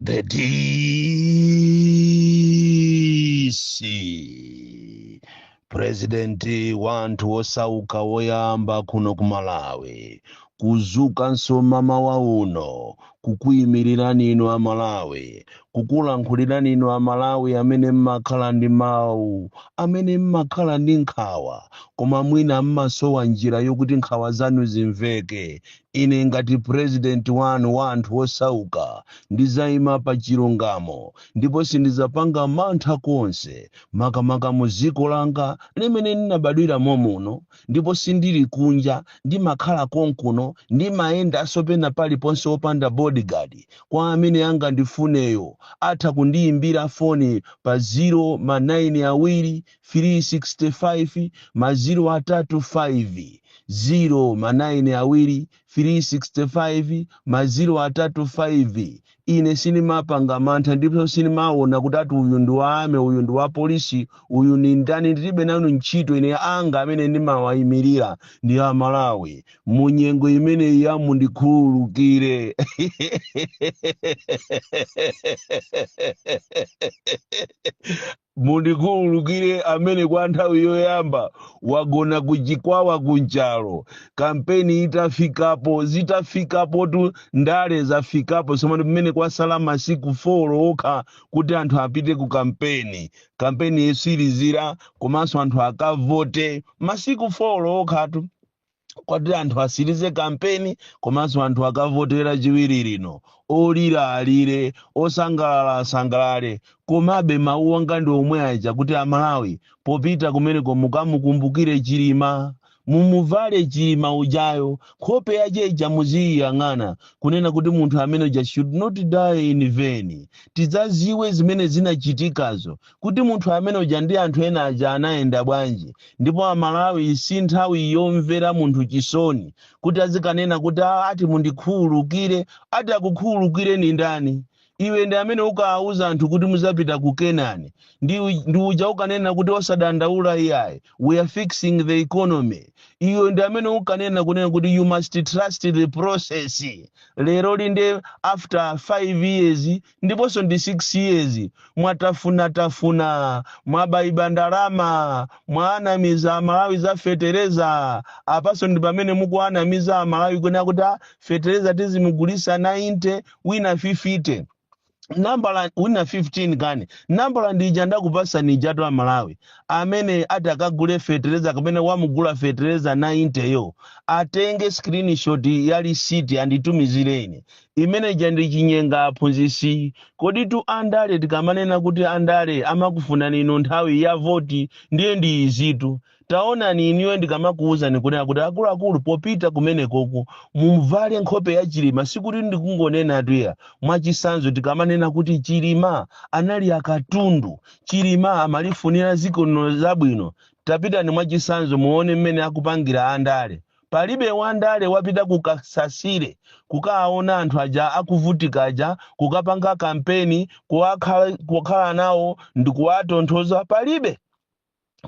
The DC purezidenti wa anthu osauka woyamba kuno ku malawi kuzukanso mmawa uno kukuimirirani inu amalawi kukulankhulirani inu amalawi amene mmakhala ndi mawu amene mmakhala ndi nkhawa koma mwina mmasowa njira yokuti nkhawa zanu zimveke Ine ngati president wanu wa anthu osauka ndizaima pa chilungamo ndipo sindizapanga mantha konse makamaka mu ziko langa limene ndinabadwira momuno ndipo sindili kunja ndimakhala konkuno ndimayendaso pena paliponse opanda bodyguard kwa amene angandifuneyo atha kundiyimbira foni pa zero ma 9 awiri 365 maziro atatu 5 ziro ma 9 awiri 365 maziro atatu 5 ine sinimapanga mantha ndipo sinimaona kuti ati uyu ndi wa army uyu ndi wa polisi uyu ni ndani ndilibe nanu ntchito ine anga amene ndimawayimirira ndi amalawi mu nyengo imeneyi ya ati mundikhululukire mundikhululukire amene kwa nthawi yoyamba wagona kuchikwawa kunchalo kampeni itafikapo zitafikapotu ndale zafikapo somano pamene kwasala masiku 4 okha kuti anthu apite ku kampeni kampeni yotsirizira komanso anthu akavote masiku 4 okhatu kuti anthu asirize kampeni komanso anthu akavote lachiwiri lino olira alire osangalala asangalale komabe mawu anga ndi omwe aja kuti amalawi popita kumeneko mukamukumbukire chilima mumuvale chilima ujayo nkhope yace ija muziyiyang'ana kunena kuti munthu amene uja should not die in vain tidzaziwe zimene zinachitikazo kuti munthu amene uja ndi anthu ena aja anayenda bwanji ndipo amalawi si nthawi yomvera munthu chisoni kuti azikanena kuti "Ah, ati mundikhululukire ati akukhululukire ndi ndani iwe ndi amene ukawauza anthu kuti muzapita ku kenani ndi, u- ndi uja ukanena kuti osadandaula iyayi we are fixing the economy iwe ndi amene ukanena kunena kuti you must trust the process lero lino after five years ndiponso ndi 6 years mwatafuna tafuna mwabaiba ndalama mwaanamiza amalawi za fetereza apanso ndi pamene mukuanamiza amalawi kunena kuti "Ah, fetereza tizimugulisa 90 wina 50 nambala wina 15 kani nambala ndija ndakupasani ijatu amalawi amene atakagule fetereza kapena wamugula fetereza 90 yo atenge screenshot ya lisiti anditumizireni Imene ija ndi chinyenga aphunzisi. Koditu andale tikamanena kuti andale amakufunani inu nthawi ya voti ndiye ndi izitu. Taonani inuyo ndikamakuuzani kunena kuti akuluakulu popita kumenekoku muvale nkhope ya Chilima sikuti ndikungonenatu iya. Mwachisanzo tikamanena kuti Chilima anali akatundu, Chilima amalifunira dziko lino zabwino. Tapitani mwachisanzo muone mmene akupangira andale. Palibe wandale wapita ku Kasasile kukaona anthu aja akuvutika aja, kukapanga kampeni, kukakhala nawo ndikuwatonthoza, palibe.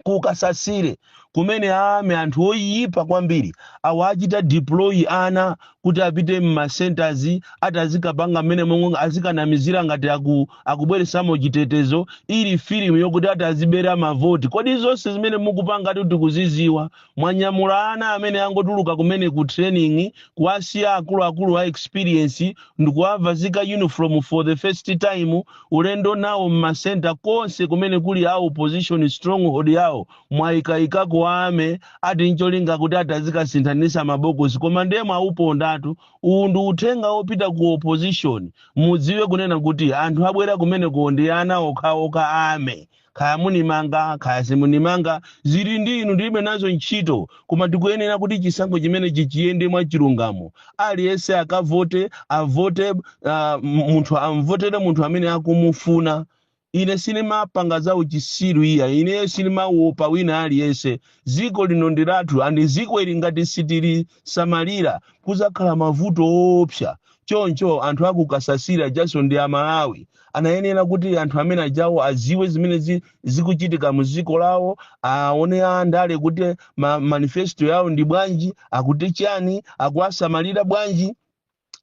Ku Kasasile kumene a army anthu oyipa kwambiri achita deploy ana kuti apite mma centres ati azikapanga mmene momwe azikanamizira ngati aku, akubweresamo chitetezo ili film yokuti ati azibera mavoti. Kodi zonse zimene mukupanga ati tikuziziwa? Mwanyamula ana amene angotuluka kumene ku training kuwasiya akuluakulu a experience ndikuwavazika uniform for the first time ulendo nawo mma centre konse kumene kuli a opposition stronghold yawo mwayikaikako army ati ncholinga kuti ati azikasinthanisa mabokosi koma ndiye mwauponda tu. Uwu ndi uthenga wopita ku opposition mudziwe kunena kuti anthu abwera kumeneko ndi ana okhaokha a army. kaya munimanga kaya simunimanga zili ndi inu ndilibe nazo ntchito koma tikuyenera kuti chisankho chimenechi chiyende mwa chilungamo aliyense akavote avote uh, munthu amvotere munthu amene akumufuna ine sindimapanga za uchisiru iya ineyo sindimawopa wina aliyense ziko lino ndi lathu andi ziko ili ngati sitili samalira kuzakhala mavuto oopsa choncho anthu aku Kasasile ajaso ndi amalawi anayenera kuti anthu amene ajawo aziwe zimene zi, zikuchitika mu ziko lawo aone andale kuti ma, manifesto yawo ndi bwanji akuti chani akuwasamalira bwanji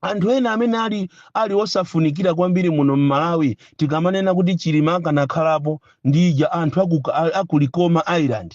anthu ena amene ali ali osafunikira kwambiri muno m'malawi tikamanena kuti chilima akanakhalapo ndi ija anthu aku, a- aku likoma island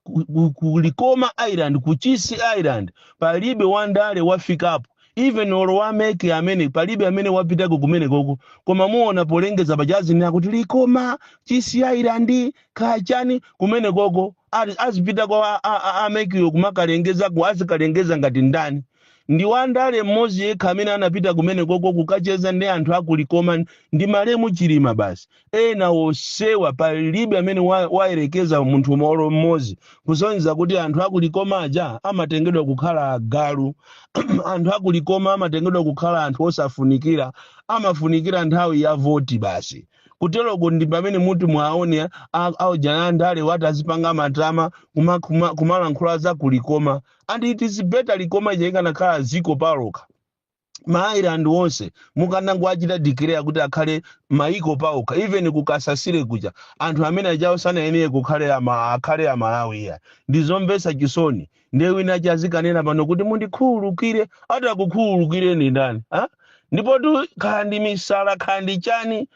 ku, ku, ku likoma island ku Chisi island palibe wandale wafikapo even olo wa MEC amene palibe amene wapitako kumenekoko koma muona polengeza paujeni akuti likoma chisi island kachani kumenekoko ali- azipitako a- a- a- a MEC-yo kumakalengezako azikalengeza ngati ndani ndi wandale mmodzi yekha amene anapita kumenekoko kukacheza ndi anthu akulikoma ndi malemu chilima basi ena osewa palibe amene wa- wayerekeza munthu olo mmodzi kusonyeza kuti anthu akulikoma aja amatengedwa kukhala agalu anthu akulikoma amatengedwa kukhala anthu osafunikira amafunikira nthawi ya voti basi kuteroko ndi pamene muti mwaone aujana andale ati azipanga matama kuma- kuma- kumalankhula za kulikoma and it is better likoma ija ikanakhala dziko palokha ma island onse mukanango achita declare kuti akhale maiko paokha even kukasasire kuja anthu amene ajawo sanayenere kukhale ama, akhale amalawi iya ndizomvetsa chisoni ndiye wina aja azikanena pano kuti mundikhululukire ati akukhululukireni ndani ha? ndipo tu khandi misala khandi chani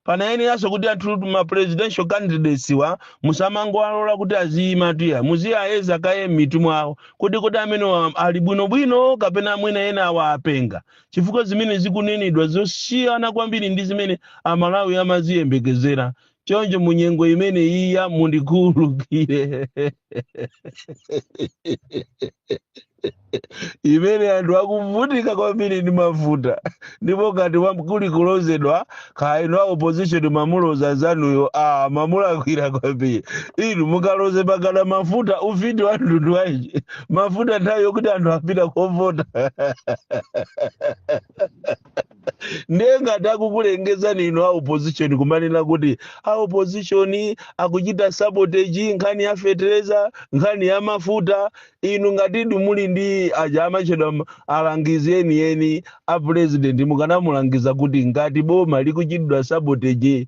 panayeneranso kuti anthu ma presidential candidates wa musamangowalola kuti aziyima tuya muziyayeza kaye m'mitu mwawo kodi kodi amenewa ali bwinobwino kapena mwina ena awa apenga chifukwa zimene zikunenedwa zosiyana kwambiri ndi zimene amalawi amaziyembekezera choncho munyengo imene iya mundikhululukire imene anthu akuvutika kwambiri ndi mafuta ndipo ngati kuli kulozedwa kaino a opposition mamuloza anzanuyo mamulakwira kwambiri inu mukaloze pakana mafuta ufiti wa mtundu wanji mafuta nthawi yokuti anthu apita kovota ndiye ngati kukulengeza ndi inu a opposition kumanena kuti a opposition akuchita sabotage nkhani ya fetereza nkhani ya mafuta inu ngati ndi muli ndi aja amatchedwa m- alangizi enieni a president mukanamulangiza kuti ngati boma likuchitidwa sabotage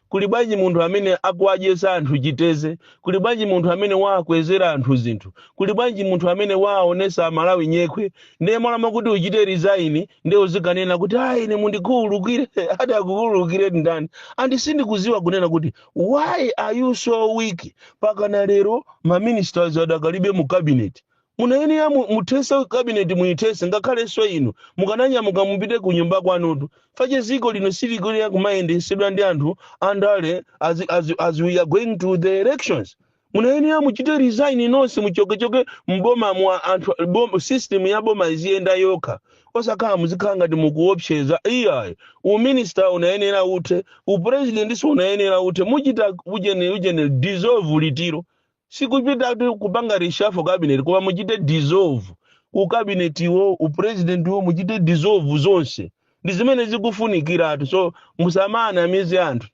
kuli bwanji munthu amene akuwadyesa anthu chiteze kuli bwanji munthu amene waakwezera anthu zinthu kuli bwanji munthu amene waaonesa amalawi nyekhwe ndiye m'malo mwakuti uchite resign ndiye uzikanena kuti ayi ine mundikhululukire ati akukhululukire ndani andi sindikudziwa kunena kuti why are you so weak pakana lero maministers adakalibe mu cabinet Munayenera mu, muthese cabinet muyithese ngakhalenso inu mukananyamuka mupite ku nyumba kwanutu chifukwa chake dziko lino silikuyenera kumayendetsedwa ndi anthu andale as, as, as we are going to the elections. Munayenera muchite resign nonse muchokechoke mboma mu anthu bom, system ya boma iziyenda yokha osakhala muzikhala ngati mukuopseza iyayi uminister unayenera uthe upresident so unayenera uthe muchite ujeni ujeni dissolve litiro Sikupitatu kupanga reshuffle cabinet koma muchite dissolve u cabinet wo, u president wo muchite dissolve zonse. Ndi zimene zikufunikiratu. So musamanamize anthu.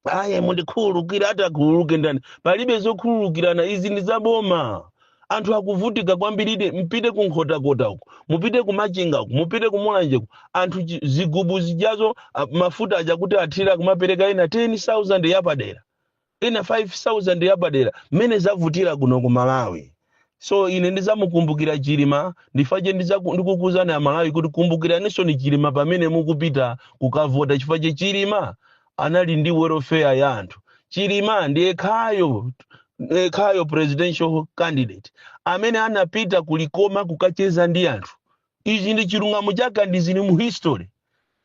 Aye mundikhululukire ati akhululuke ndani? Palibe zokhululukirana izi ndi za boma. Anthu akuvutika kwambiridi mpite ku Nkhotakota uko, mupite ku Machinga uko, mupite ku Mulanje uko. Anthu chi- zigubu zijazo a- mafuta aja kuti athira kumapereka ina 10,000 yapadera. ina 5000 yapadera mmene zavutira kuno ku malawi so ine ndizamukumbukira chilima nchifache ndizaku- ndikukuzani amalawi kuti kumbukiraninso ni chilima pamene mukupita kukavota chifache chilima anali ndi welfare ya anthu chilima ndiye khayo eh, khayo presidential candidate amene anapita kulikoma kukacheza ndi anthu Ichi ndi chilungamo chake ndi zili mu history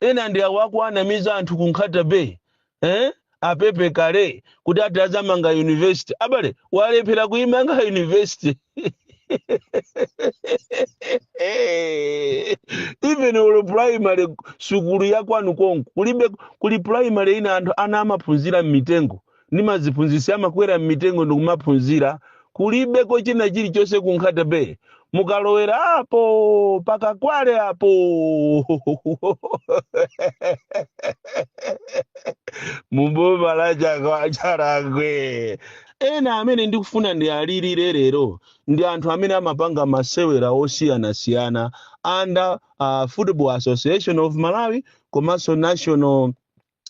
ena ndi awa akuwanamiza anthu ku nkhata bay eh? apepe kale kuti ati azamanga university abale walephera kuimanga university even olo primary sukulu ya kwanu konko kulibe kuli primary ina anthu ana amaphunzira mmitengo ndi maziphunzitsi amakwera m'mitengo ndi kumaphunzira kulibeko china chilichonse ku nkhata bay mukalowera apo pa kakwale apo muboma la chaka- chakwera ena amene ndikufuna ndi alilire lero ndi anthu amene amapanga masewera osiyanasiyana under uh, football association of malawi komanso national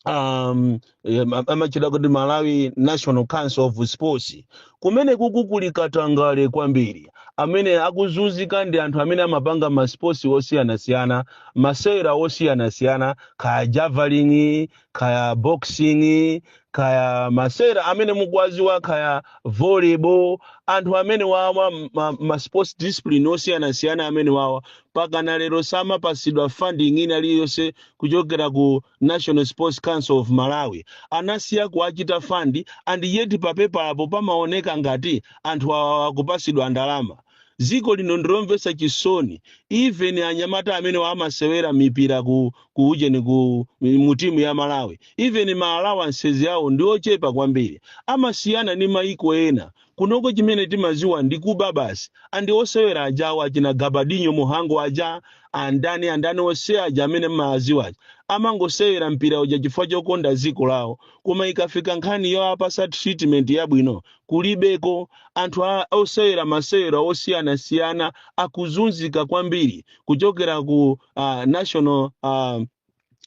um, em, amatcha kuti malawi national council of sports kumene kuku- kuli katangale kwambiri amene akuzunzika ndi anthu amene amapanga masports osiyanasiyana masewera osiyanasiyana kaya javelin kaya boxing kaya masewera amene mukuwaziwa kaya volleyball anthu amene wawa ma, ma sports discipline osiyanasiyana amene wawa pakana lero samapasidwa funding ina iliyonse kuchokera ku national sports council of malawi anasiya kuwachita fund and yet papepalapo pamaoneka ngati anthu awa akupasidwa ndalama dziko lino ndilomvetsa chisoni even anyamata amene amasewera mipira ku ku ujeni ku mu timu ya malawi even ma allowances awo ndi ochepa kwambiri amasiyana ndi maiko ena kunoko chimene timaziwa ndi kuba basi and osewera ajawa achina gabadinho muhango aja andani andani onse aja amene mmaaziwa aja amangosewera mpira uja chifukwa chokonda dziko lawo koma ikafika nkhani yoapasa treatment yabwino kulibeko anthu a- osewera masewera osiyanasiyana akuzunzika kwambiri kuchokera ku uh, national uh,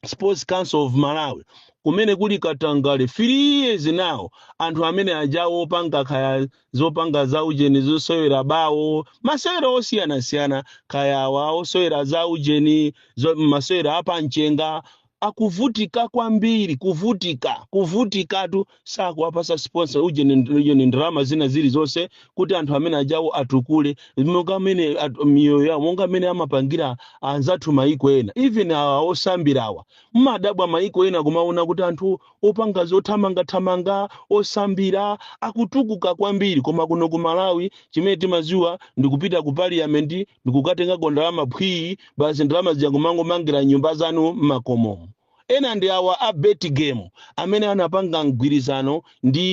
sports council of malawi kumene kuli katangale 3 years now anthu amene ajawo opanga kaya zopanga za ujeni zosewera bawo masewera osiyanasiyana kaya awa osewera za ujeni zo- masewera apamchenga akuvutika kwambiri kuvutika kuvutikatu sakuwapasa sponsor ujeni nd- ujeni ndalama zina zilizonse kuti anthu amene ajawo atukule monga amene at- miyoyo yawo monga amene amapangira anzathu maiko ena even awa osambirawa mmadabwa maiko ena kumaona kuti anthu opanga zothamangathamanga osambira akutukuka kwambiri koma kuno ku malawi chimene timaziwa ndikupita ku parliament ndikukatengako ndalama phwii basi ndalama zija kumangomangira nyumba zanu mmakomomo Ena ndi awa a Betgame amene anapanga mgwirizano ndi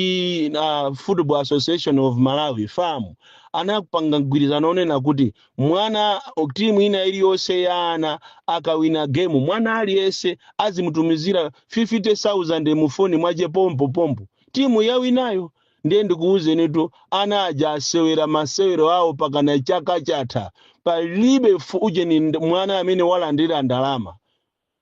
a Football Association of Malawi, FAM. Anapanga mgwirizano wonena kuti mwana, timu ina iliyonse ya ana akawina game, mwana aliyense azimutumizira 50,000 mu foni mwache pompo pompo timu yawinayo. Ndiye ndikuuzenitu ana aja asewera masewero awo pakana chaka chatha palibe ujeni mwana amene walandira ndalama.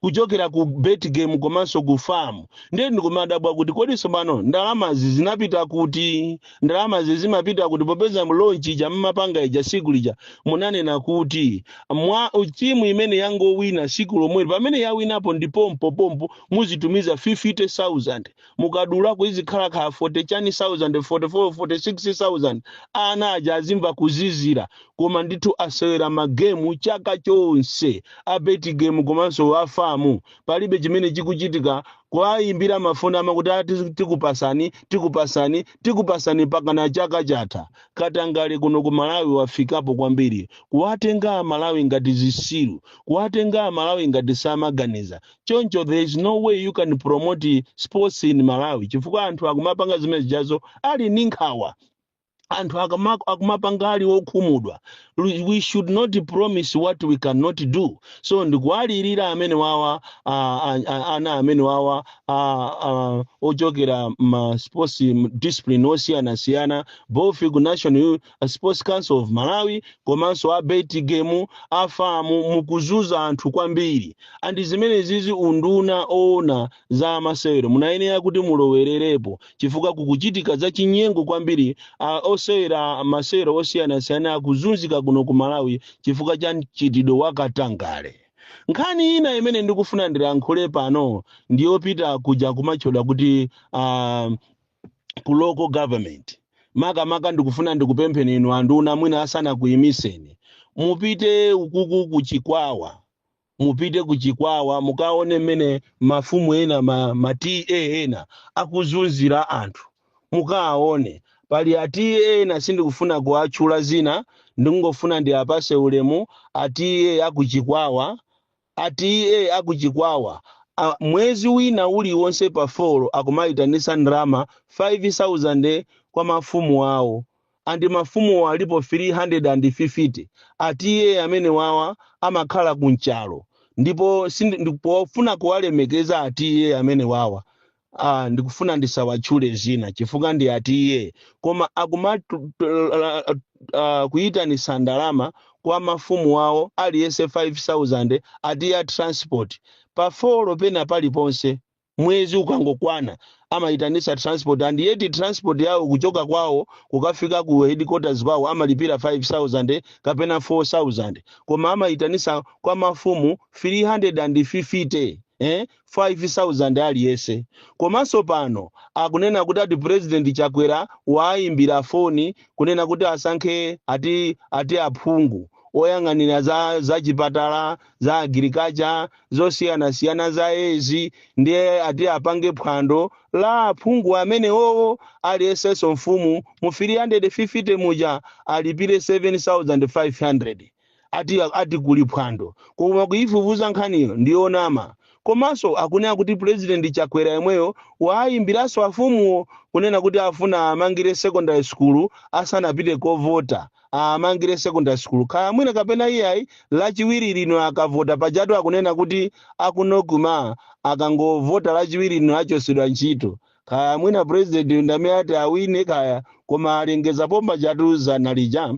kuchokera ku betgame komanso ku fam ndiye ndikumadabwa kuti kodi tsopano ndalamazi zinapita kuti ndalamazi zimapita kuti popeza mlaunch ija mmapanga ija siku lija munanena kuti mwa timu imene yangowina siku lomweli pamene yawinapo ndi pompo pompo muzitumiza 50000 mukadulako izikhala kaya 40000 44 46000 ana aja azimva kuzizira koma ndithu asewera magemu chaka chonse a bet game komanso a fam palibe chimene chikuchitika kuwayimbira mafoni amakuti tikupasani tikupasani tikupasani pakana chaka chatha katangale kuno ku malawi wafikapo kwambiri kuwatenga amalawi ngati zisiru kuwatenga amalawi ngati samaganiza choncho there is no way you can promote sports in malawi chifukwa anthu akumapanga zimene zijazo ali ndi nkhawa anthu akama- akumapanga ali okhumudwa we should not promise what we cannot do so ndikuwalirira amene wawa ah, ah, ah, ana amene wawa ah, ah, ochokera ma sports discipline osiyanasiyana both ku national Sports Council of Malawi komanso a Betgame a FAM mukuzuza anthu kwambiri and zimenezizi unduna oona za masewero munayenera kuti mulowererepo chifukwa kukuchitika za chinyengo kwambiri osewera masewero osiyanasiyana akuzunzika kuno ku Malawi chifukwa cha mchitidwe wa katangale nkhani ina imene ndikufuna ndilankhule pano ndiyopita kuja kumatchedwa kuti uh, ku local government makamaka ndikufuna ndikupempheni inu anduna mwina asanakuyimiseni mupite ukuku ku chikwawa mupite ku chikwawa mukaone mmene mafumu ena ma, ma TA ena akuzunzira anthu mukaone pali a TA ena sindikufuna kuwatchula zina ndingofuna ndiapase ulemu a TA akuchikwawa A TA a ku Chikwawa mwezi wina uliwonse pa 4 akumaitanitsa ndalama 5,000 kwa mafumu awo and mafumuwo alipo 350. A TA amenewawa amakhala ku Nchalo ndipo sindi, pofuna kuwalemekeza a TA amenewawa Ah, ndikufuna ndisawatchule zina chifukwa ndi a TA koma akumatu la- ah, kuyitanisa ndalama kwa mafumu awo aliyense 5000 ati ya transport pa folo pena paliponse mwezi ukangokwana amayitanisa transport and yet transport yawo kuchoka kwawo kukafika ku headquarters kwawo amalipira 5000 kapena 4000 koma amayitanisa kwa mafumu 350 eh 5000 aliyese komanso pano akunena kuti ati president chakwera waayimbira foni kunena kuti asankhe ati ati aphungu oyang'anira za za chipatala za agriculture zosiyanasiyana za ezi ndiye ati apange phwando la aphungu amenewowo aliyesenso mfumu mu 350 muja alipire 7500 ati ati kuli phwando koma kuifufuza nkhaniyo ndiyonama komanso akunena kuti president chakwera yemweyo waayimbiranso afumuwo kunena kuti afuna aamangire secondary school asanapite kovota aamangire secondary school kaya mwina kapena iyayi lachiwiri lino akavota pajatu akunena kuti aku NOCMA akangovota lachiwiri lino achosedwa ntchito kaya mwina president ndamene ati awine kaya koma alengeza pomba chatu zana lija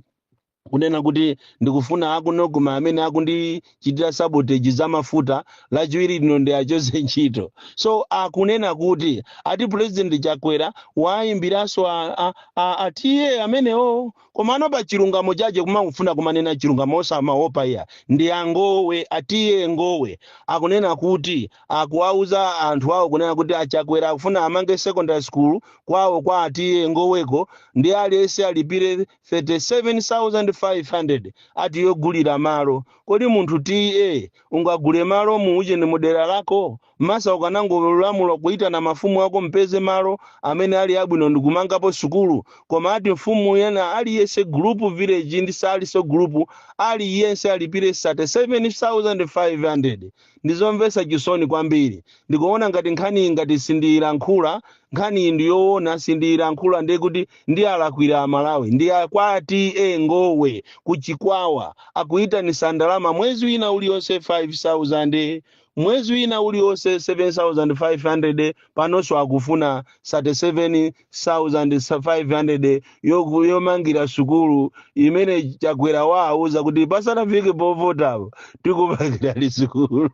kunena kuti ndikufuna aku NOCMA amene akundichitira sabotage za mafuta lachiwiri lino ndiachose ntchito so akunena kuti ati president chakwera waayimbiranso a- a- a- a TA amenewo komano pa chilungamo chache kumangofuna kumanena chilungamo osamaopa iya ndi a Ngowe a TA Ngowe akunena kuti akuwauza anthu awo kunena kuti achakwera akufuna amange secondary school kwawo kwa a TA Ngoweko ndi aliyense alipire 37500 ati yogulira malo kodi munthu TA ungagule malo mu ujeni mudera lako mesa ukanangolamula kuitana mafumu ako mpeze malo amene ali abwino ndikumangapo sukulu koma ati mfumu yena aliyese group village ndi osaliso group aliyense alipire 37500 Ndi zomvetsa chisoni kwambiri. Ndikuona ngati nkhaniyi ngati sindiyilankhula, nkhaniyi ndi yoona sindiyilankhula ndiye kuti ndiwalakwira a Malawi. Ndi a kwa TA Ngowe ku Chikwawa. Akuyitanisa ndalama mwezi wina ulionse 5,000, mwezi wina ulionse 7,500, panonso akufuna 37, 500 yoku- yomangira sukulu imene chakwera wauza kuti pasanafike povotapo tikumangirani sukulu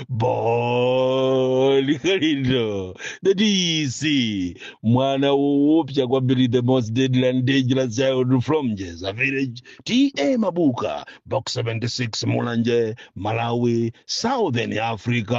Bon Kalindo that is mwana woopsa kwambiri the most deadly and dangerous child from jeza village ta mabuka box 76 mulanje malawi southern africa